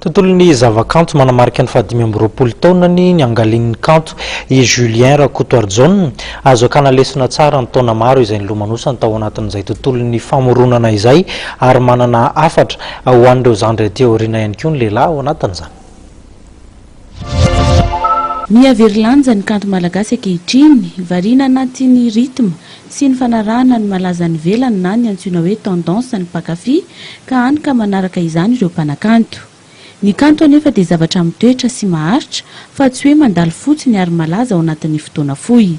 Tontolon'ny zavakanto manamarika ny fahadimy amby roapolo taonany niangalian'ny kanto i Julien Rakotoarijaona. Azo akana lesona tsara ny taona maro izay nilomanosany tao anatin'izay tontolon'ny famoronana izay ary manana hafatra ho an'ireo zandry aty aoriana ihany koa ny lehilahy ao anatin'izany. Miha very lanja ny kanto malagasy ankehitriny, variana anaty ny rythme sy ny fanarahana ny malaza any ivelany na ny antsoina hoe tendance ny mpankafy ka hany ka manaraka izany ireo mpanakanto. Ny kanto anefa dia zavatra mitoetra sy maharitra fa tsy hoe mandalo fotsiny ary malaza ao anatin'ny fotoana fohy.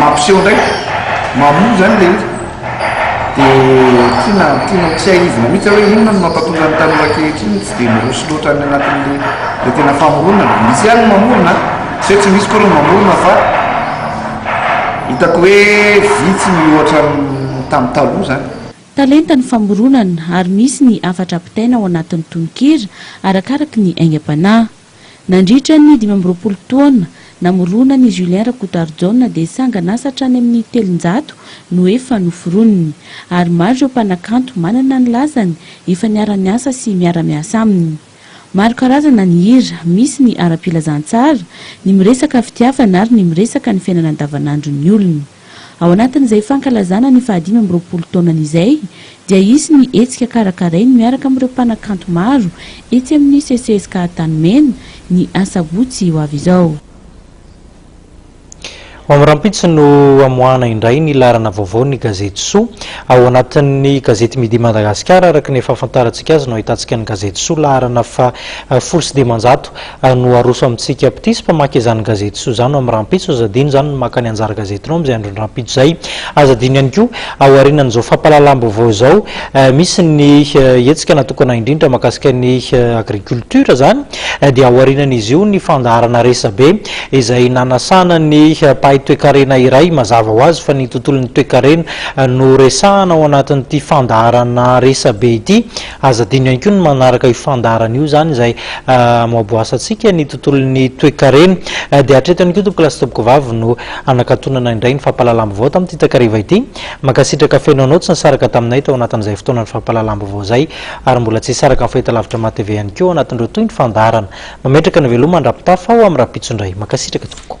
Mampiseho indray mamoa izany ilay izy, dia tiana tiana hotsiahivina mihitsy hoe inona no mampatonga ny tanora ankehitriny tsy dia miroso loatra any anatin'ilay tena famoronana. Misy ihany ny mamorona an, tsy hoe tsy misy akory ny mamorona fa hitako hoe vitsy ny ohatra tamin'ny taloha izany. Talenta ny famoronana ary misy ny hafatra ampitaina ao anatin'ny tononkira arakaraka ny aingam-panahy. Nandritra ny dimy amby roapolo taona namorona an'i Julien Rakotarijaona dia sanganasa hatrany amin'ny telonjato no efa noforoniny, ary maro ireo mpanakanto manana ny lazany efa niara-niasa sy miara-miasa aminy. Maro karazana ny hira, misy ny ara-pilazantsara, ny miresaka fitiavana ary ny miresaka ny fiainana andavanandron'ny olona. Ao anatin'izay fankalazana ny fahadimy amby roapolo taonany izay dia hisy ny hetsika karakarainy miaraka amin'ireo mpanakanto maro etsy amin'ny CCSK Antanimena, ny asabotsy ho avy izao. Ho amin'ny rahampitso no hamoahana indray ny laharana vaovao ny gazety Soa. Ao anatin'ny gazety Midi Madagasikara, araka ny fahafantarantsika azy no ahitantsika ny gazety Soa laharana faha folo sy dimanjato. ary no aroso amintsika mpitia sy mpamaky izany gazety soa izany ao amin'ny rahampitso, aza adino izany ny maka ny anjara gazetinao amin'izay andron-drahampitso izay, aza adino ihany koa ao aorianan'izao fampahalalam-baovao izao misy ny hetsika natokana indrindra mahakasika ny agriculture izany dia ao aorianan'izy io ny fandaharana resabe izay nanasana ny mpahay toekarena iray mazava ho azy fa ny tontolon'ny toekarena no resahana ao anatin'ity fandaharana resabe ity Aza adino ihany koa ny manaraka io fandaharana io izany izay amoaboasantsika ny tontolon'ny toekarena. Dia hatreto ihany koa Tompokolahy sy Tompokovavy no hanakatonana indray ny fampahalalam-baovao tamin'ity takariva ity. Mankasitraka feno anao tsy nisaraka taminay tao anatin'izay fotoanan'ny fampahalalam-baovao izay ary mbola tsy hisaraka amin'ny fahitalavitra mahatv ihany koa ao anatin'ireo toy ny fandaharana. Mametraka ny veloma an-dRampitafy aho amin'ny rahampitso indray. Mankasitraka tompoko.